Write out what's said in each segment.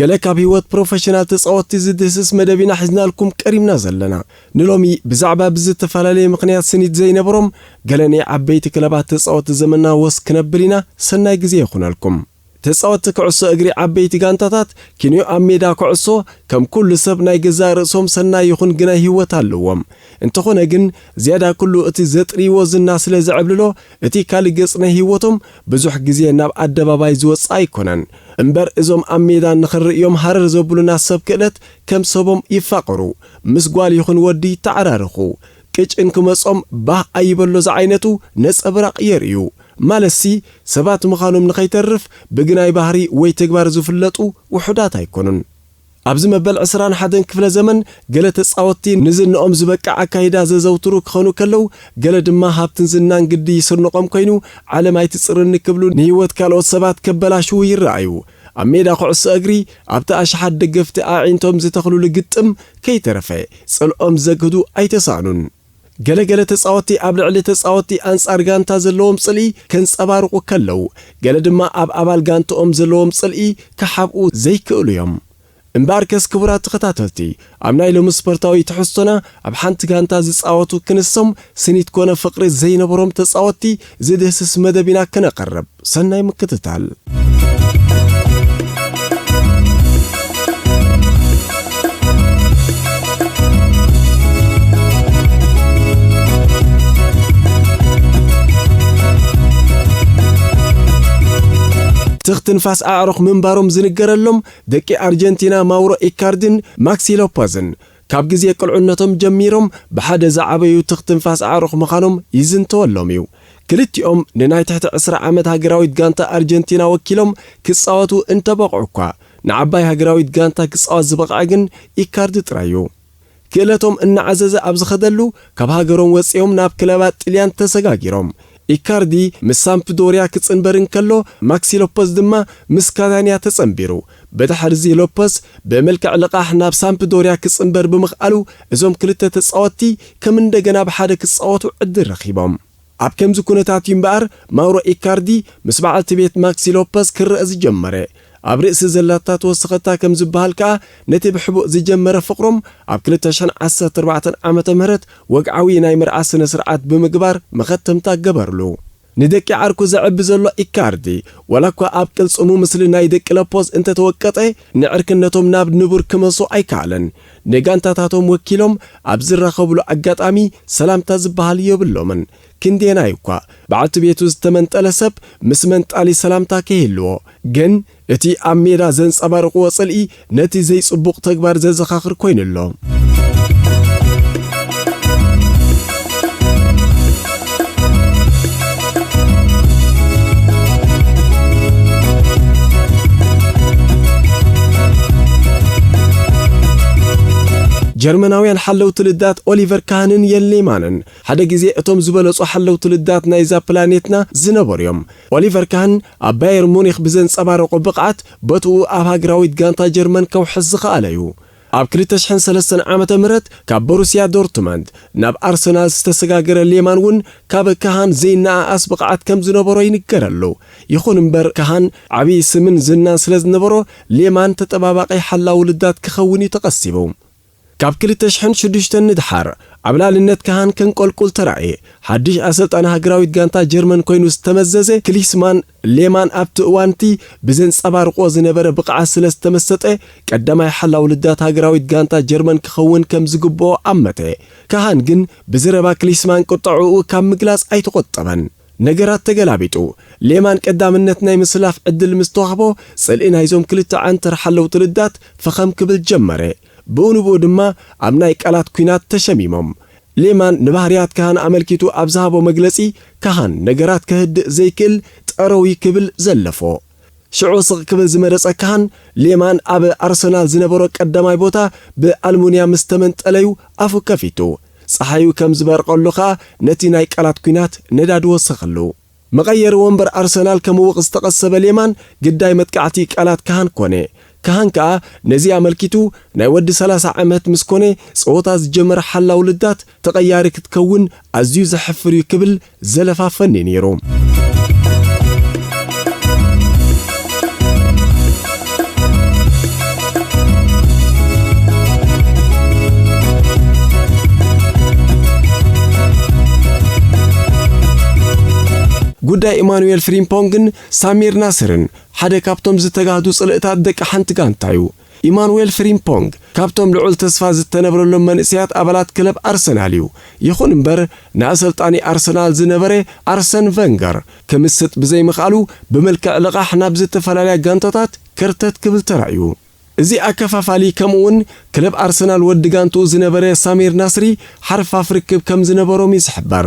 ገለ ካብ ሂወት ፕሮፈሽናል ተጻወትቲ ዝድህስስ መደብ ኢና ሒዝናልኩም ቀሪብና ዘለና። ንሎሚ ብዛዕባ ብዝተፈላለየ ምኽንያት ስኒት ዘይነበሮም ገለ ናይ ዓበይቲ ክለባት ተጻወትቲ ዘመንና ወስ ክነብል ኢና፣ ሰናይ ግዜ ይኹነልኩም። ተጻወትቲ ክዕሶ እግሪ ዓበይቲ ጋንታታት ኪንዮ ኣብ ሜዳ ኮዕሶ ከም ኩሉ ሰብ ናይ ገዛእ ርእሶም ሰናይ ይኹን ግናይ ሂወት ኣለዎም። እንተኾነ ግን ዝያዳ ኩሉ እቲ ዘጥርይዎ ዝና ስለ ዘዕብልሎ እቲ ካልእ ገጽ ናይ ሂወቶም ብዙሕ ግዜ ናብ ኣደባባይ ዝወጽኣ ኣይኮነን እምበር እዞም ኣብ ሜዳ ንኽንርእዮም ሃረር ዘብሉና ሰብ ክእለት ከም ሰቦም ይፋቐሩ ምስ ጓል ይኹን ወዲ ይተዓራረኹ ቅጭ እንክመጾም ባህ ኣይበሎ ዝዓይነቱ ነጸብራቕ የርእዩ ማለትሲ ሰባት ምኻኖም ንኸይተርፍ ብግናይ ባህሪ ወይ ተግባር ዝፍለጡ ውሑዳት ኣይኮኑን ኣብዚ መበል ዕስራን ሓደን ክፍለ ዘመን፣ ገለ ተጻወትቲ ንዝንኦም ዝበቅዕ ኣካይዳ ዘዘውትሩ ክኸኑ ከለው፣ ገለ ድማ ሃብትን ዝናን ግዲ ይስርንቖም ኮይኑ፣ ዓለም ኣይትጽርኒ ክብሉ ንህይወት ካልኦት ሰባት ከበላሽዉ ይረኣዩ። ኣብ ሜዳ ኩዕሶ እግሪ፣ ኣብቲ ኣሽሓት ደገፍቲ ኣዒንቶም ዝተኽሉሉ ግጥም ከይተረፈ፣ ጽልኦም ዘግህዱ ኣይተሳእኑን። ገለ ገለ ተጻወትቲ ኣብ ልዕሊ ተጻወትቲ ኣንጻር ጋንታ ዘለዎም ጽልኢ ከንጸባርቑ ከለው፣ ገለ ድማ ኣብ ኣባል ጋንትኦም ዘለዎም ጽልኢ ክሓብኡ ዘይክእሉ እዮም። እምበኣርከስ ክቡራት ተኸታተልቲ፣ ኣብ ናይ ሎሚ ስፖርታዊ ትሕዝቶና፣ ኣብ ሓንቲ ጋንታ ዝጻወቱ ክንሶም ስኒት ኮነ ፍቕሪ ዘይነበሮም ተጻወትቲ ዝድህስስ መደብ ኢና ክነቕርብ። ሰናይ ምክትታል። ትኽ ትንፋስ ኣዕሩኽ ምንባሮም ዝንገረሎም ደቂ ኣርጀንቲና ማውሮ ኢካርዲን ማክሲ ሎፐዝን፣ ካብ ግዜ ቅልዑነቶም ጀሚሮም ብሓደ ዝዓበዩ ትኽ ትንፋስ ኣዕሩኽ ምኻኖም ይዝንተወሎም እዩ። ክልቲኦም ንናይ ትሕቲ ዕስራ ዓመት ሃገራዊት ጋንታ ኣርጀንቲና ወኪሎም ክጻወቱ እንተበቕዑ'ኳ፣ ንዓባይ ሃገራዊት ጋንታ ክጻወት ዝበቕዐ ግን ኢካርዲ ጥራይ እዩ። ክእለቶም እናዓዘዘ ኣብ ዝኸደሉ፣ ካብ ሃገሮም ወጺኦም ናብ ክለባት ጥልያን ተሰጋጊሮም። ኢካርዲ ምስ ሳምፕዶርያ ክጽንበር እንከሎ፣ ማክሲ ሎፐዝ ድማ ምስ ካታንያ ተጸንቢሩ። ብድሕሪ'ዚ ሎፐዝ ብምልክዕ ልቓሕ ናብ ሳምፕዶርያ ክጽንበር ብምኽኣሉ እዞም ክልተ ተጻወትቲ ከም እንደገና ብሓደ ክጻወቱ ዕድል ረኺቦም። ኣብ ከምዚ ኩነታት እዩ እምበኣር ማውሮ ኢካርዲ ምስ በዓልቲ ቤት ማክሲ ሎፐዝ ክረኣ ዝጀመረ። ኣብ ርእሲ ዘላታ ተወሰኸታ ከም ዝበሃል ከኣ ነቲ ብሕቡእ ዝጀመረ ፍቕሮም ኣብ ክልተ ሽሕን ዓሰርተ ኣርባዕተን ዓመተ ምህረት ወግዓዊ ናይ መርዓ ስነ-ስርዓት ብምግባር መኸተምታ ገበርሉ። ንደቂ ዓርኩ ዘዕቢ ዘሎ ኢካርዲ፣ ዋላኳ ኣብ ቅልጽሙ ምስሊ ናይ ደቂ ለፖዝ እንተተወቀጠ፣ ንዕርክነቶም ናብ ንቡር ክመልሶ ኣይከኣለን። ንጋንታታቶም ወኪሎም ኣብ ዝራኸብሉ ኣጋጣሚ ሰላምታ ዝበሃል የብሎምን። ክንደየናይ'ኳ፣ በዓልቲ ቤቱ ዝተመንጠለ ሰብ ምስ መንጣሊ ሰላምታ ከይህልዎ ግን እቲ ኣብ ሜዳ ዘንጸባርቕዎ ጽልኢ ነቲ ዘይጽቡቕ ተግባር ዘዘኻኽር ኮይኑ ኣሎ። ጀርመናውያን ሓለውቲ ልዳት ኦሊቨር ካህንን የን ሌማንን ሓደ ግዜ እቶም ዝበለጹ ሓለውቲ ልዳት ናይዛ ፕላኔትና ዝነበሩ እዮም። ኦሊቨር ካን ኣብ ባየር ሙኒክ ብዘንጸባረቖ ብቕዓት ቦትኡ ኣብ ሃገራዊት ጋንታ ጀርመን ከውሕስ ዝኸኣለ'ዩ። ኣብ ክልተ ሽሕን ሰለስተን ዓመተ ምህረት ካብ ቦሩስያ ዶርትመንድ ናብ ኣርሰናል ዝተሰጋገረ ሌማን እውን ካብ ካሃን ዘይነኣኣስ ብቕዓት ከም ዝነበሮ ይንገረሉ። ይኹን እምበር ካሃን ዓቢ ስምን ዝናን ስለ ዝነበሮ ሌማን ተጠባባቒ ሓላዊ ልዳት ክኸውን'ዩ ተቐሲቡ። ካብ ክልተ ሽሕን ሽዱሽተን ንደሓር ኣብ ልኣልነት ከሃን ከንቆልቁል ተራእየ። ሓድሽ ኣሰልጣኒ ሃገራዊት ጋንታ ጀርመን ኮይኑ ዝተመዘዘ ክሊስማን ሌማን ኣብቲ እዋን'ቲ ብዘንጸባርቖ ዝነበረ ብቕዓት ስለ ዝተመሰጠ ቀዳማይ ሓላው ልዳት ሃገራዊት ጋንታ ጀርመን ክኸውን ከም ዝግብኦ ኣመተ። ከሃን ግን ብዝረባ ክሊስማን ቁጠዐኡ ካብ ምግላጽ ኣይተቖጠበን። ነገራት ተገላቢጡ፣ ሌማን ቀዳምነት ናይ ምስላፍ ዕድል ምስ ተዋህቦ፣ ጽልኢ ናይዞም ክልተ ዓንተር ሓለውቲ ልዳት ፈኸም ክብል ጀመረ። ብኡ ንብኡ ድማ ኣብ ናይ ቃላት ኲናት ተሸሚሞም። ሌማን ንባህርያት ከሃን ኣመልኪቱ ኣብ ዝሃቦ መግለጺ፣ ከሃን ነገራት ከህድእ ዘይክእል ጠረው'ዩ ክብል ዘለፎ። ሽዑ ስቕ ክብል ዝመረጸ ካህን፣ ሌማን ኣብ ኣርሰናል ዝነበሮ ቀዳማይ ቦታ ብኣልሙንያ ምስ ተመንጠለ'ዩ ኣፉ ከፊቱ። ጸሓዩ ከም ዝበርቐሉ ከኣ ነቲ ናይ ቃላት ኲናት ነዳዲ ወሰኸሉ። መቐየሪ ወንበር ኣርሰናል ከምውቕ ዝተቐሰበ ሌማን ግዳይ መጥቃዕቲ ቃላት ካህን ኮነ። ካህን ከኣ ነዚ ኣመልኪቱ፣ ናይ ወዲ ሰላሳ ዓመት ምስ ኮነ ጸወታ ዝጀመረ ሓላው ልዳት ተቐያሪ ክትከውን ኣዝዩ ዘሕፍር'ዩ ክብል ዘለፋ ፈኒ ነይሩ። ጉዳይ ኢማኑኤል ፍሪምፖንግን ሳሚር ናስርን ሓደ ካብቶም ዝተጋህዱ ጽልእታት ደቂ ሓንቲ ጋንታ'ዩ። ኢማኑዌል ፍሪምፖንግ ካብቶም ልዑል ተስፋ ዝተነብረሎም መንእሰያት ኣባላት ክለብ ኣርሰናል እዩ፣ ይኹን እምበር ንኣሰልጣኒ ኣርሰናል ዝነበረ ኣርሰን ቨንገር ክምስጥ ብዘይምኽኣሉ ብመልክዕ ልቓሕ ናብ ዝተፈላለያ ጋንታታት ከርተት ክብል ተራእዩ። እዚ ኣከፋፋሊ ከምኡ'ውን ክለብ ኣርሰናል ወዲ ጋንትኡ ዝነበረ ሳሚር ናስሪ ሓርፋፍ ርክብ ከምዝነበሮም እዩ ዝሕበር።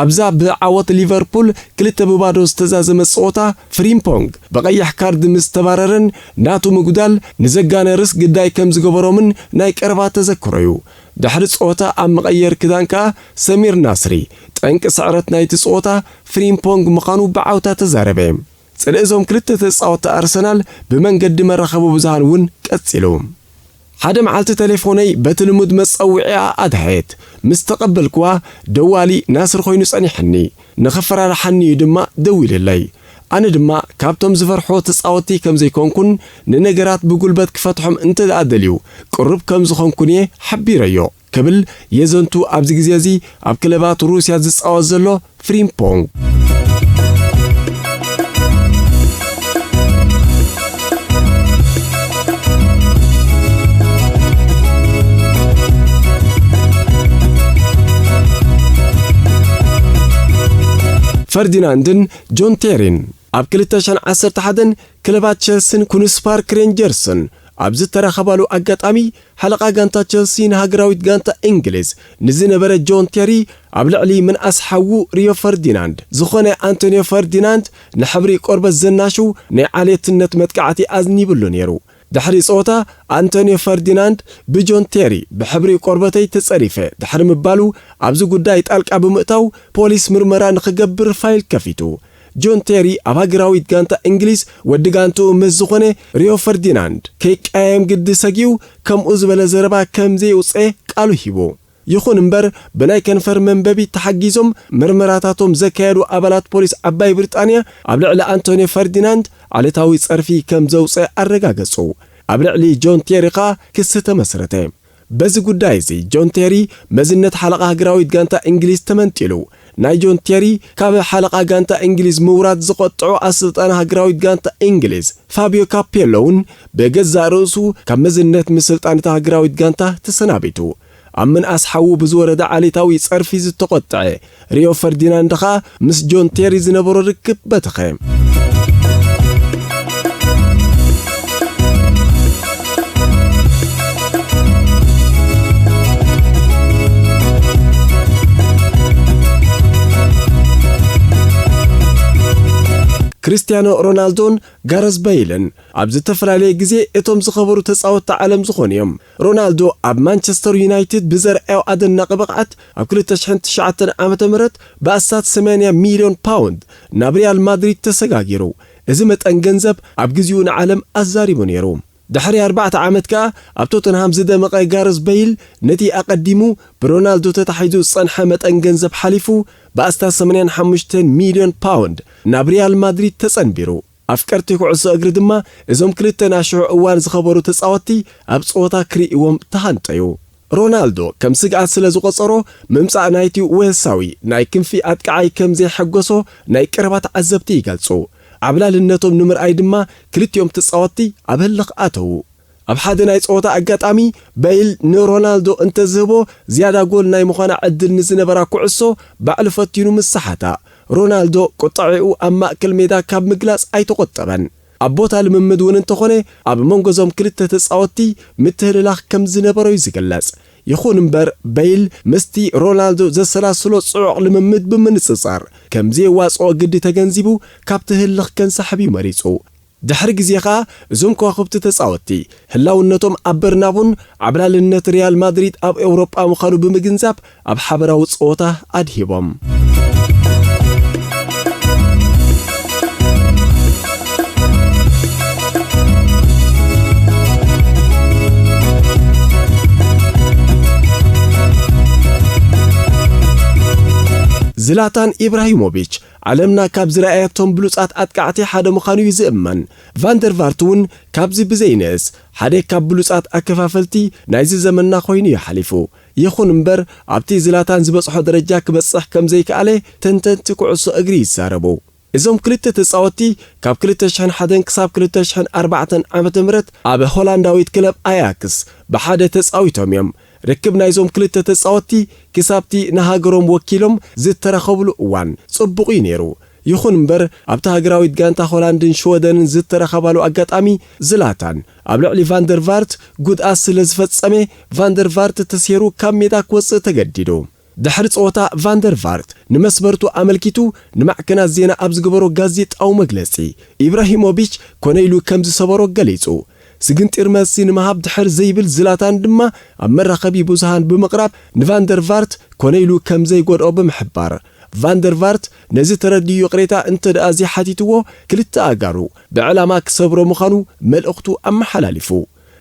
ኣብዛ ብዓወት ሊቨርፑል ክልተ ብባዶ ዝተዛዘመት ጸወታ፣ ፍሪምፖንግ ብቐይሕ ካርድ ምስ ተባረረን ናቱ ምጉዳል ንዘጋነርስ ግዳይ ከም ዝገበሮምን ናይ ቀረባ ተዘክሮ'ዩ። ድሕሪ ጸወታ ኣብ መቐየሪ ክዳን ከኣ ሰሚር ናስሪ፣ ጠንቂ ስዕረት ናይቲ ጸወታ ፍሪምፖንግ ምዃኑ ብዓውታ ተዛረበ። ጽልኢ እዞም ክልተ ተጻወትቲ ኣርሰናል ብመንገዲ መራኸቢ ብዙሃን እውን ቀጺሉ። ሓደ መዓልቲ ተሌፎነይ በቲ ልሙድ መጸውዒኣ ኣድሃየት። ምስ ተቐበልክዋ፣ ደዋሊ ናስር ኮይኑ ጸኒሐኒ። ንኸፈራርሓኒ'ዩ ድማ ደዊልለይ። ኣነ ድማ ካብቶም ዝፈርሑ ተጻወትቲ ከም ዘይኮንኩን ንነገራት ብጉልበት ክፈትሖም እንተድኣ ደልዩ ቅሩብ ከም ዝኾንኩን'የ ሓቢረዮ። ክብል የዘንቱ ኣብዚ ግዜ እዚ ኣብ ክለባት ሩስያ ዝጻወት ዘሎ ፍሪምፖንግ። ፈርዲናንድን ጆን ቴሪን ኣብ ክልተ ሽሕን ዓሰርተ ሓደን ክለባት ቸልሲን ኩንስ ፓርክ ሬንጀርስን ኣብ ዝተራኸባሉ ኣጋጣሚ ሓለቓ ጋንታ ቸልሲ ንሃገራዊት ጋንታ እንግሊዝ ንዝነበረ ጆን ቴሪ ኣብ ልዕሊ ምንኣስ ሓዉ ሪዮ ፈርዲናንድ ዝኾነ ኣንቶንዮ ፈርዲናንድ ንሕብሪ ቆርበት ዘናሽው ናይ ዓሌትነት መጥቃዕቲ ኣዝኒብሉ ነይሩ። ድሕሪ ጸወታ ኣንቶንዮ ፈርዲናንድ ብጆን ቴሪ ብሕብሪ ቆርበተይ ተጸሪፈ ድሕሪ ምባሉ ኣብዚ ጉዳይ ጣልቃ ብምእታው ፖሊስ ምርመራ ንኽገብር ፋይል ከፊቱ። ጆን ቴሪ ኣብ ሃገራዊት ጋንታ እንግሊዝ ወዲ ጋንትኡ ምስ ዝኾነ ሪዮ ፈርዲናንድ ከይቀያየም ግዲ ሰጊኡ ከምኡ ዝበለ ዘረባ ከም ዘየውጽኤ ቃሉ ሂቡ። ይኹን እምበር ብናይ ከንፈር መንበቢ ተሓጊዞም ምርመራታቶም ዘካየዱ ኣባላት ፖሊስ ዓባይ ብሪጣንያ ኣብ ልዕሊ ኣንቶንዮ ፈርዲናንድ ዓሌታዊ ጸርፊ ከም ዘውጽኤ ኣረጋገጹ። ኣብ ልዕሊ ጆን ቴሪ ከኣ ክሲ ተመስረተ። በዚ ጉዳይ እዚ ጆን ቴሪ መዝነት ሓለቓ ሃገራዊት ጋንታ እንግሊዝ ተመንጢሉ። ናይ ጆን ቴሪ ካብ ሓለቓ ጋንታ እንግሊዝ ምውራድ ዝቖጠዖ ኣሰልጣኒ ሃገራዊት ጋንታ እንግሊዝ ፋብዮ ካፔሎ'ውን ብገዛእ ርእሱ ካብ መዝነት ምስልጣን እታ ሃገራዊት ጋንታ ተሰናቢቱ። ኣብ ምንኣስ ሓዉ ብዝወረደ ዓሌታዊ ጸርፊ ዝተቖጠዐ ሪዮ ፈርዲናንድ ኸኣ ምስ ጆን ቴሪ ዝነበሮ ርክብ በተኸ። ክርስትያኖ ሮናልዶን ጋረዝ በይልን ኣብ ዝተፈላለየ ግዜ እቶም ዝኸበሩ ተጻወትቲ ዓለም ዝኾኑ እዮም። ሮናልዶ ኣብ ማንቸስተር ዩናይትድ ብዘርኣዮ ኣደናቒ ብቕዓት፣ ኣብ ክልተ ሽሕን ትሽዓተን ዓመተ ምህረት ብኣስታት ሰማንያ ሚልዮን ፓውንድ ናብ ሪያል ማድሪድ ተሰጋጊሩ። እዚ መጠን ገንዘብ ኣብ ግዜኡ ንዓለም ኣዛሪቡ ነይሩ። ድሕሪ ኣርባዕተ ዓመት ከኣ ኣብ ቶተንሃም ዝደመቐ ጋረዝ በይል ነቲ ኣቐዲሙ ብሮናልዶ ተታሒዙ ዝጸንሐ መጠን ገንዘብ ሓሊፉ ብኣስታት ሰማንያን ሓሙሽተን ሚልዮን ፓውንድ ናብ ሪያል ማድሪድ ተጸንቢሩ። ኣፍቀርቲ ኩዕሶ እግሪ ድማ እዞም ክልተ ናይ ሽዑ እዋን ዝኸበሩ ተጻወትቲ ኣብ ጸወታ ክርእይዎም ተሃንጠዩ። ሮናልዶ ከም ስግኣት ስለ ዝቖጸሮ ምምጻእ ናይቲ ዌልሳዊ ናይ ክንፊ ኣጥቃዓይ ከም ዘየሐጎሶ ናይ ቀረባ ተዓዘብቲ ይገልጹ። ዓብላልነቶም ንምርኣይ ድማ ክልቲኦም ተጻወትቲ ኣብ ህልኽ ኣተዉ። ኣብ ሓደ ናይ ጸወታ ኣጋጣሚ፣ በይል ንሮናልዶ እንተ ዝህቦ ዝያዳ ጎል ናይ ምዃና ዕድል ንዝነበራ ኩዕሶ ባዕሉ ፈቲኑ ምስ ሰሓታ፣ ሮናልዶ ቁጠዐኡ ኣብ ማእከል ሜዳ ካብ ምግላጽ ኣይተቖጠበን። ኣብ ቦታ ልምምድ እውን እንተኾነ ኣብ መንጎ እዞም ክልተ ተጻወትቲ ምትህልላኽ ከም ዝነበሮ እዩ ዝግለጽ። ይኹን እምበር በይል ምስቲ ሮናልዶ ዘሰላስሎ ጽዑቕ ልምምድ ብምንጽጻር ከም ዘየዋጽኦ ግዲ ተገንዚቡ ካብቲ ህልኽ ከንሳሕብ እዩ መሪጹ። ድሕሪ ግዜ ከኣ እዞም ከዋኽብቲ ተጻወትቲ፣ ህላውነቶም ኣብ በርናቡን ዓብላልነት ሪያል ማድሪድ ኣብ ኤውሮጳ ምዃኑ ብምግንዛብ ኣብ ሓበራዊ ጸወታ ኣድሂቦም። ዝላታን ኢብራሂሞቪች ዓለምና ካብ ዝረኣየቶም ብሉጻት ኣጥቃዕቲ ሓደ ምዃኑ'ዩ ዝእመን። ቫን ደር ቫርት'ውን ካብዚ ብዘይንእስ ሓደ ካብ ብሉጻት ኣከፋፈልቲ ናይዚ ዘመንና ኮይኑ'ዩ ሓሊፉ። ይኹን እምበር ኣብቲ ዝላታን ዝበጽሖ ደረጃ ክበጽሕ ከም ዘይክኣለ ተንተንቲ ኩዕሶ እግሪ ይዛረቡ። እዞም ክልተ ተጻወትቲ ካብ ክልተ ሽሕን ሓደን ክሳብ ክልተ ሽሕን ኣርባዕተን ዓመተ ምህረት ኣብ ሆላንዳዊት ክለብ ኣያክስ ብሓደ ተጻዊቶም'ዮም። ርክብ ናይዞም ክልተ ተጻወትቲ ክሳብ'ቲ ንሃገሮም ወኪሎም ዝተረኸብሉ እዋን ጽቡቕ'ዩ ነይሩ። ይኹን እምበር ኣብታ ሃገራዊት ጋንታ ሆላንድን ሽወደንን ዝተረኸባሉ ኣጋጣሚ ዝላታን ኣብ ልዕሊ ቫንደርቫርት ጉድኣት ስለዝፈጸመ ቫንደርቫርት ተሴሩ ካብ ሜዳ ክወጽእ ተገዲዱ። ድሕሪ ጸወታ ቫን ደር ቫርት ንመስበርቱ ኣመልኪቱ ንማዕከናት ዜና ኣብ ዝገበሮ ጋዜጣዊ መግለጺ፣ ኢብራሂሞቪች ኮነ ኢሉ ከም ዝሰበሮ ገሊጹ። ስግንጢር መልሲ ንምሃብ ድሕር ዘይብል ዝላታን ድማ ኣብ መራኸቢ ብዙሃን ብምቕራብ ንቫን ደር ቫርት ኮነ ኢሉ ከም ዘይጎድኦ ብምሕባር፣ ቫን ደር ቫርት ነዚ ተረዲኡ ይቕሬታ እንተድኣ ዘይሓቲትዎ ክልተ ኣእጋሩ ብዕላማ ክሰብሮ ምዃኑ መልእኽቱ ኣመሓላሊፉ።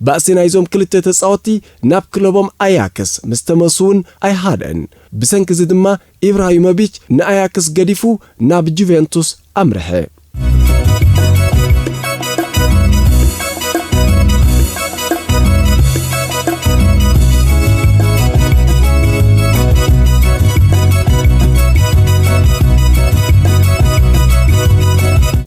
ባእሲ ናይዞም ክልተ ተጻወትቲ ናብ ክለቦም ኣያክስ ምስ ተመልሱ'ውን ኣይሃደኣን። ብሰንኪ'ዚ ድማ ኢብራሂሞቪች ንኣያክስ ገዲፉ ናብ ጁቬንቱስ ኣምርሐ።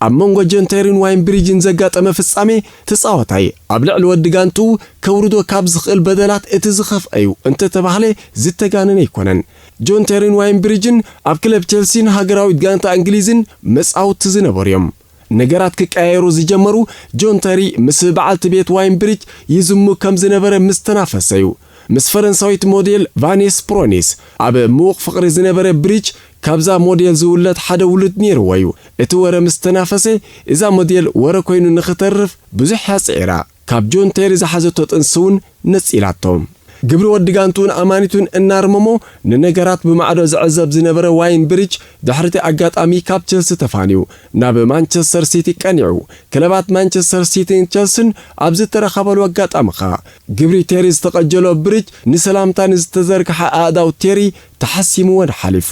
ኣብ መንጎ ጆን ቴሪን ዋይን ብሪጅን ዘጋጠመ ፍጻሜ ተጻዋታይ ኣብ ልዕሊ ወዲ ጋንትኡ ከውርዶ ካብ ዝኽእል በደላት እቲ ዝኸፍኣ'ዩ እንተተባህለ ዝተጋነነ ኣይኮነን። ጆን ተሪን ዋይን ብሪጅን ኣብ ክለብ ቸልሲን ሃገራዊት ጋንታ እንግሊዝን መጻውቲ ዝነበሩ'ዮም። ነገራት ክቀያየሩ ዝጀመሩ ጆን ተሪ ምስ ብዓልቲ ቤት ዋይን ብሪጅ ይዝሙ ከም ዝነበረ ምስ ተናፈሰ'ዩ። ምስ ፈረንሳዊት ሞዴል ቫኔስ ፕሮኒስ ኣብ ምዉቕ ፍቕሪ ዝነበረ ብሪች፣ ካብዛ ሞዴል ዝውለድ ሓደ ውሉድ ነይርዎ'ዩ። እቲ ወረ ምስ ተናፈሰ፣ እዛ ሞዴል ወረ ኮይኑ ንኽተርፍ ብዙሕ'ያ ጽዒራ። ካብ ጆን ቴሪ ዝሓዘቶ ጥንሲ'ውን ነጺላቶ። ግብሪ ወዲ ጋንትኡን ኣማኒቱን እናርመሞ ንነገራት ብማዕዶ ዝዕዘብ ዝነበረ ዋይን ብሪች፣ ድሕሪ'ቲ ኣጋጣሚ ካብ ቸልሲ ተፋንዩ ናብ ማንቸስተር ሲቲ ቀኒዑ። ክለባት ማንቸስተር ሲቲን ቸልሲን ኣብ ዝተራኸባሉ ኣጋጣሚ ከኣ፣ ግብሪ ቴሪ ዝተቐጀሎ ብርጅ ንሰላምታ ንዝተዘርግሓ ኣእዳው ቴሪ ተሓሲምወን ሓሊፉ።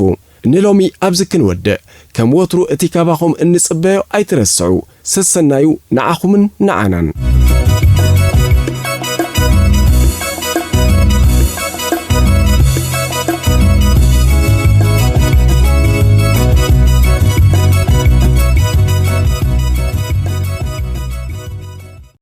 ንሎሚ ኣብዚ ክንወድእ። ከም ወትሩ እቲ ካባኹም እንጽበዮ ኣይትረስዑ። ሰሰናዩ ንዓኹምን ንዓናን።